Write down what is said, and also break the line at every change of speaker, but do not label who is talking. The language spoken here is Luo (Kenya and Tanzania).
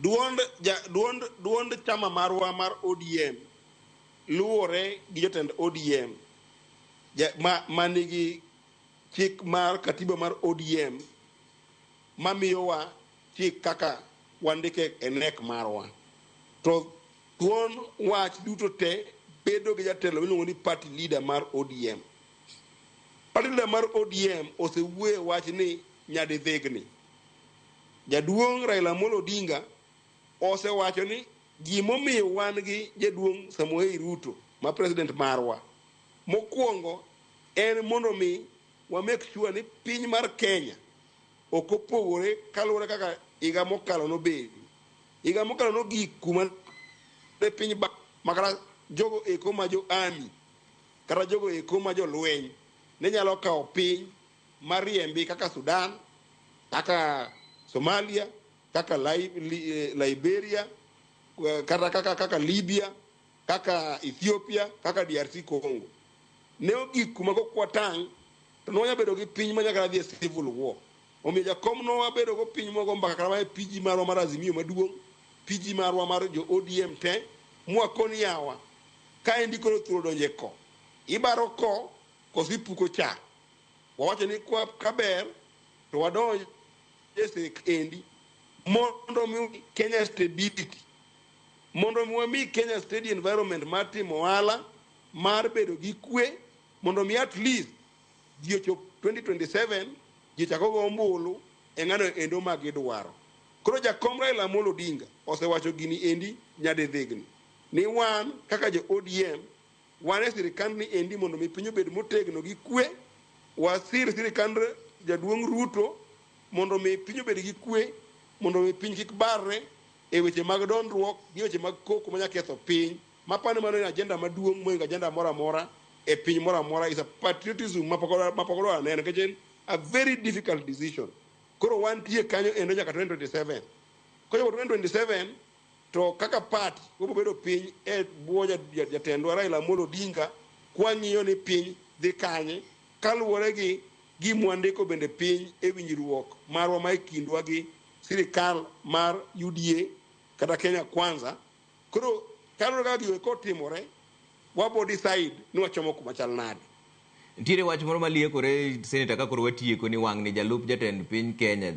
Duond, ja, duond, duond chama marwa mar ODM luwore gi jotend ODM ja, ma, ma nigi chik mar katiba mar ODM ma miyowa chik kaka wandike e nek marwa. To thuon wach duto te bedo gi jatelo miluongo ni party leader mar ODM. Party leader mar ODM osewuoye wach ni nyadidhigni. Jaduong' Raila Amolo Odinga osewacho ni gimomiyo wan gi Jaduong' Samoei Ruto ma President marwa, mokuongo en mondo omi wa make sure ni piny mar Kenya ok opogore kaluwore kaka higa mokalo nobedi. Higa mokalo nogik kuma ne piny ba makata jogo eko ma jo army kata jogo eko ma jolweny ne nyalo kawo piny mariembi kaka Sudan, kaka Somalia, kaka Li- Li- eh, Liberia, eh, kata kaka, kaka Libya, kaka Ethiopia, kaka DRC Congo. Ne ogik kuma go kwatang' to nonya bedo gi piny ma nyaka dhi e civil war. Omiyo jakom no wabedo go piny mogo mbaka kata mae PG marwa mar Azimio maduong', PG marwa mar jo ODM te, mwakon yawa. Kaendi koro thuol donje ko. Ibaro ko, kosi puko cha. Wawacho ni kwa, ka ber to wadonj e sek endi mondo mi Kenya stability mondo mi wami Kenya steady environment mar timo ohala mar bedo gi kwe mondo mi at least ji ochop 2027 ji chako go ombulu e ng'ano endo ma gidwaro. Koro jakom Raila Amolo Odinga osewacho gini endi nyadidhigni ni wan kaka jo ODM Wan e sirkand ni endi mondo mi piny obed motegno gi kwe. Wasir sirkand jaduong' Ruto mondo mi piny obed gi kwe, mondo mi piny kik barre e weche mag dondruok gi weche mag koko manya ketho piny. Mapani mano en agenda maduong' moingo agenda moro amora e piny moro amora is a patriotism mapok mapok odwa neno nikech en a very difficult decision. Koro wantie kanyo endo nyaka 2027. Kochopo 2027 To kaka party wabiro bedo piny e bwo jatendwa Raila Amolo Odinga kwang'iyo ni piny dhi kanye kaluwore gi gima wandiko bende piny e winjruok marwa ma e kindwa gi sirikal mar UDA kata Kenya Kwanza. Koro kaluwore kaka gigo eko otimore, wabo decide ni wachomo kuma chal nade. Ntiere
wach moro maliekore Senator ka koro watieko ni wang'ni jalup jatend piny Kenya